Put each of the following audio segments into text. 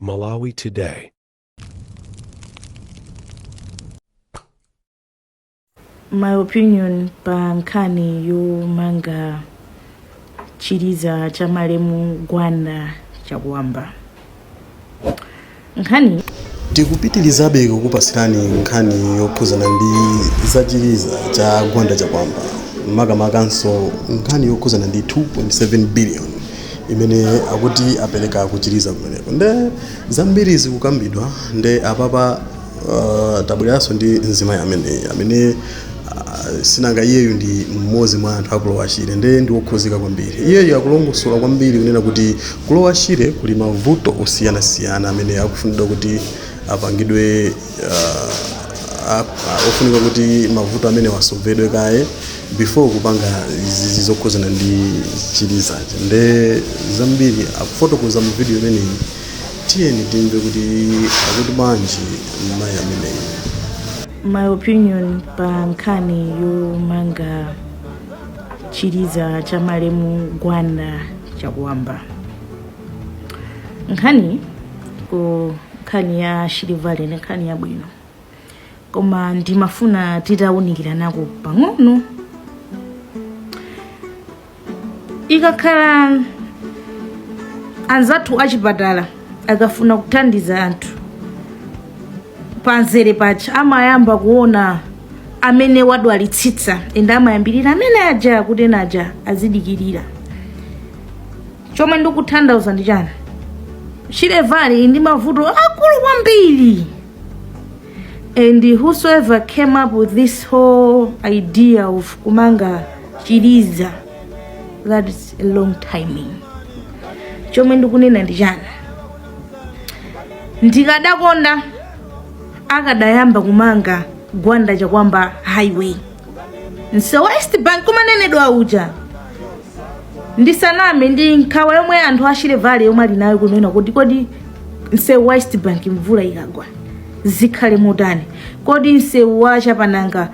Malawi Today. my opinion pa nkhani yomanga chiliza cha malemu gwanda chakuwamba nkhani tikupitilizabe kukupasirani nkhani yokhuzana ndi zachiliza cha gwanda chakuwamba makamakanso nkhani yokhuzana ndi 2.7 billion imene akuti apereka kuchiliza kumeneko nde zambiri zikukambidwa nde apapa Uh, tabwereranso ndi mzimayi ameneyi amene uh, sinanga iyeyu ndi mmodzi mwa anthu aku lower shire nde ndi wokhuzika kwambiri iyeyu akulongosola kwambiri kunena kuti ku lower shire kuli mavuto osiyanasiyana amene akufunidwa kuti apangidwe uh, a- a- ofunika kuti mavuto amenewa asovedwe kaye before kupanga izizi zokhuzana ndi chilizachi nde zambiri akufotokoza mu video imeneyi Tiyeni timve kuti akuti bwanji mayi ameneyu. my opinion pa nkhani yomanga chiliza cha malemu gwanda chakuwamba nkhani ko nkhani ya shire valley ni nkhani yabwino koma ndimafuna titawunikiranako pang'ono ikakhala anzathu achipatala akafuna kuthandiza anthu panzere paja amayamba kuona amene wadwalitsitsa ende amayambirira amene aja kuti enaja azidikirira chomwe ndikutanthauza ndi chani shire valley ili ndi mavuto akulu kwambiri and whosoever came up with this whole idea of kumanga chiliza that is a wrong timing chomwe ndikunena ndi chani ndikadakonda akadayamba kumanga gwanda chakuwamba highway msewu wa east bank umanenedwa uja ndisaname ndi nkhawa yomwe anthu a shire valley yomwe ali nayo kunena kuti kodi msewu wa east bank mvula ikagwa zikhale motani kodi msewu wa chapananga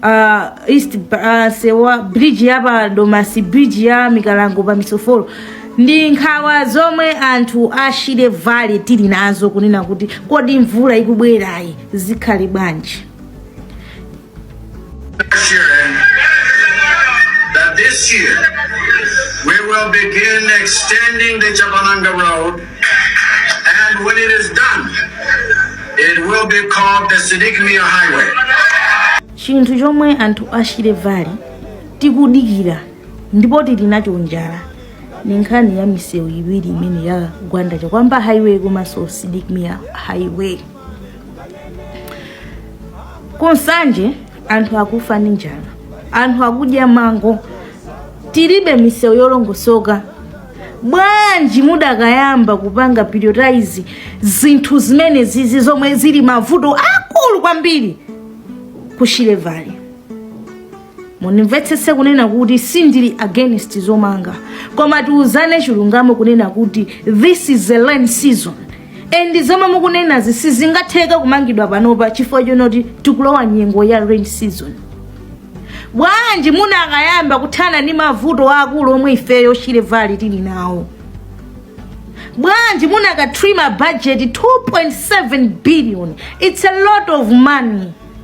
uh, east uh, msewu wa bridge ya pa domasi bridge ya mikalango pa misofolo ndi nkhawa zomwe anthu a shire valley tili nazo kunena kuti kodi mvula ikubwerayi zikhale bwanji Assuring that this year we will begin extending the Chapananga Road, and when it is done, it will be called the Sidik Mia Highway. chinthu chomwe anthu a Shire Valley tikudikira ndipo tili nacho njala ni nkhani ya misewu iwiri imene ya Gwanda Chakuamba highway komanso Sidik Mia highway ku Nsanje anthu akufa ndi njala anthu akudya mango tilibe misewu yolongosoka bwanji mudakayamba kupanga prioritize zinthu zimene izizi zomwe zili mavuto akulu kwambiri ku Shire Valley mundimvetsetse kunena kuti sindili against zomanga koma tiuzane chilungamo kunena kuti this is the rain season and zomwe mukunenazi sizingatheke kumangidwa panopa chifukwa chonoti tikulowa nyengo ya rain season bwanji munakayamba kuthana ndi mavuto akulu omwe ifeyo a Shire Valley tili nawo bwanji munakatrima budget 2.7 billion it's a lot of money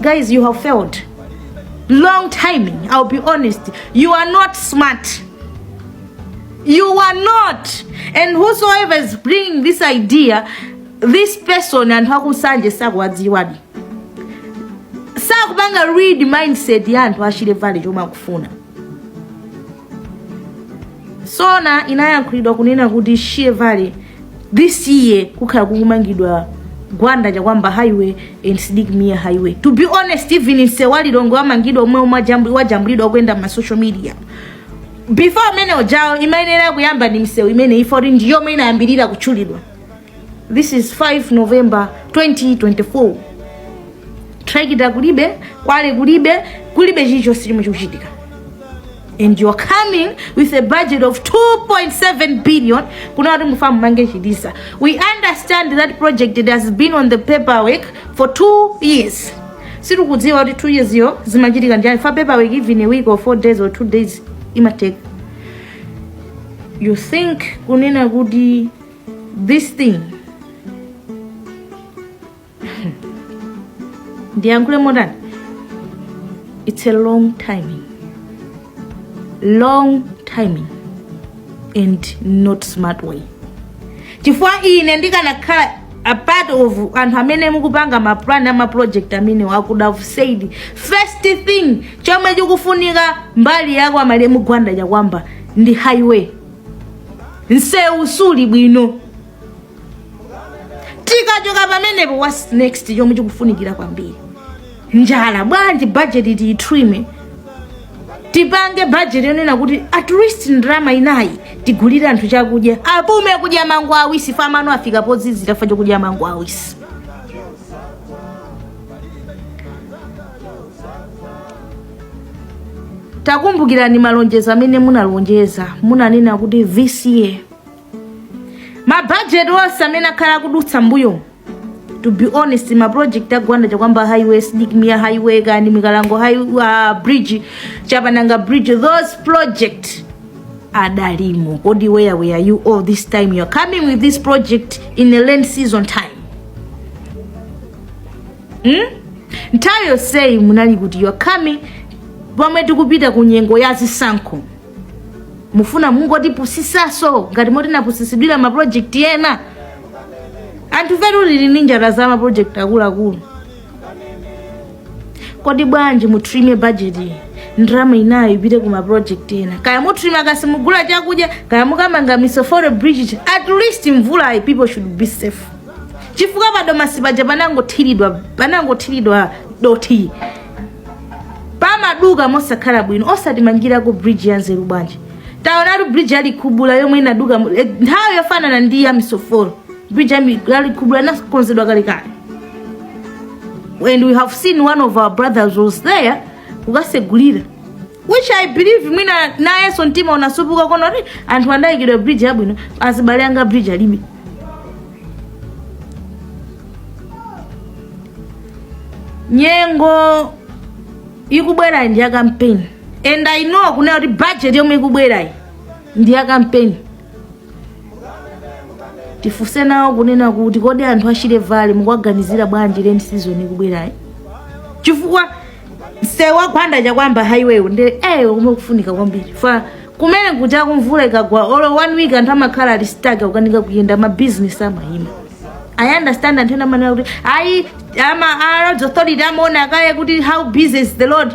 guys you have failed long timing i'll be honest you are not smart you are not and whosoever is bringing this idea this person anthu akusanje sakuwadziwadi sakupanga read mindset ya anthu achilevale chomwe akufuna zoona inayankhulidwa kunena kuti Shire Valley this year kukhala kukumangidwa Gwanda Chakuamba highway and Sidik Mia highway to be honest even msewu wa Lilongwe wamangidwa omwe omwe ajambu- wajambulidwa ukuyenda ma social media before umene ujawo imayenera kuyamba ndi misewu imene ifoyo ndiyomwe inayambirira kutchulidwa this is 5 november 2024 trakita kulibe kwale kulibe kulibe chilichonse chomwe chikuchitika and you're coming with a budget of 2.7 billion kunena kuti mukufuna mumange chiliza we understand that project it has been on the paperwork for two years sitikudziwa kuti two years yo zimachitika n'chani fa paperwork even a week or four days or two days imatheka you think kunena kuti this thing ndiyankhule motani it's a long timing long timing and not smart way chifukwa ine ndikanakhala a part of anthu amene mukupanga maplan amaproject amenewo i could have said first thing chomwe chikufunika mbali ya kwa malemu Gwanda Chakuamba ndi highway msewu suli bwino tikachoka pamenepo what's next chomwe chikufunikira kwambiri njala bwanji bajeti tiyitrime tipange bajeti yonena kuti at least ndalama inayi tigulire anthu chakudya apume kudya mango awisi fa mano afika pozizirira fa chokudya mango awisi takumbukirani malonjezo amene munalonjeza munanena kuti this year ma budget onse amene akhala akudutsa mbuyo to be honest maproject a Gwanda Chakuamba highway Sidik Mia highway kaya mikalango high, uh, bridge chapananga bridge those projects adalimo kodi where were you all this time you are coming with this project in a rain season time hmm? nthawi yonseyi munali kuti you're coming pomwe tikupita ku nyengo ya zisankho mufuna mungotipusisaso ngati momwe tinapusisidwira ma project ena anthu a valley ali ni njala ya ma project akuluakulu kodi bwanji mutrime budget ndrama inayo ipite ku ma project ena kaya mutrima cash mugula chakudya kaya mukamanga misoforo bridge at least mvulayi people should be safe chifukwa pa Domasi paja panangothiridwa panangothiridwa dothi pamaduka mosakhala bwino osatimangirako bridge yanzeru bwanji taonatu bridge ya likhubula yomwe inaduka mu- eh, nthawi yofanana ndi ya misoforo bridge ya mi- ya likhubula inakonzedwa kalekale and we have seen one of our brothers was there kukasegulira which i believe mwina nayenso mtima unasupuka kuona kuti anthu anayikiridwa bridge yabwino azibale anga bridge alibe nyengo ikubwerayi ndi ya campaign and i know kunena kuti budget yomwe ikubwerayi ndi ya campaign tifunse nawo kunena kuti kodi anthu a Shire Valley mukuwaganizira bwanji rain season ikubwerayi chifukwa msewu wa Gwanda Chakuamba highway nde komwe kukufunika kwambiri ifeyo kumene kuti kumvula ikagwa olo one week anthu amakhala ali stuck akukanika kuyenda ma business amayima i understand anthu ena amanena kuti ayi ama a roads authority amaona kaye kuti how busy is the road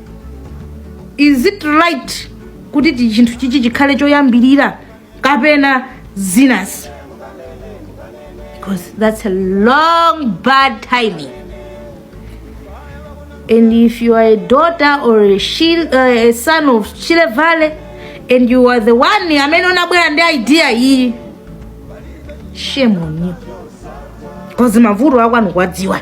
is it right kuti ti- chinthu chichi chikhale choyambirira kapena zinazi because that's a wrong bad timing and if you are a daughter or a, Shil, uh, a son of Shire Valley and you are the one amene munabwera ndi idea iyi shame on you because mavuto akwanu ukuwadziwa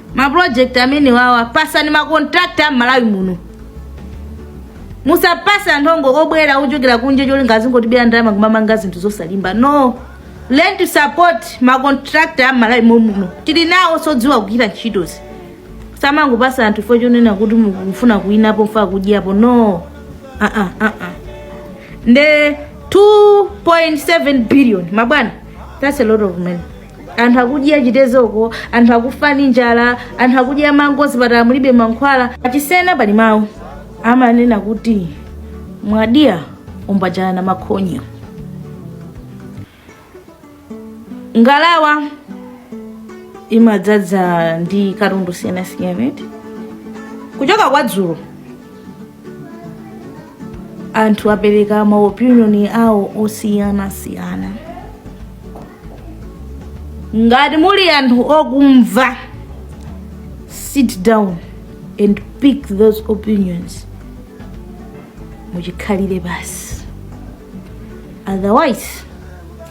ma project amenewa apatseni ma contractor a Malawi muno musapatsa anthu ongokobwera kuchokera kunja cholinga azingotibera ndalama kumamanga zinthu zosalimba no learn to support ma contractor a Malawi momuno tili nawoso odziwa kugwira ntchitozi osamangopatsa anthu fochonena kuti mukufuna kuwinapo mufuna kudyapo no ah ah ah ah nde 2.7 billion mabwana that's a lot of money anthu akudya chitezoko anthu akufa ndi njala anthu akudya mango zipatala mulibe mankhwala pa Chisena pali mawu amanena kuti mwadya umbajana na makhonyo ngalawa imadzaza ndi katundu siyanasiyana eti kuchoka kwa dzulo anthu apereka maopinion awo osiyanasiyana ngati muli anthu okumva sit down and pick those opinions muchikhalire pansi otherwise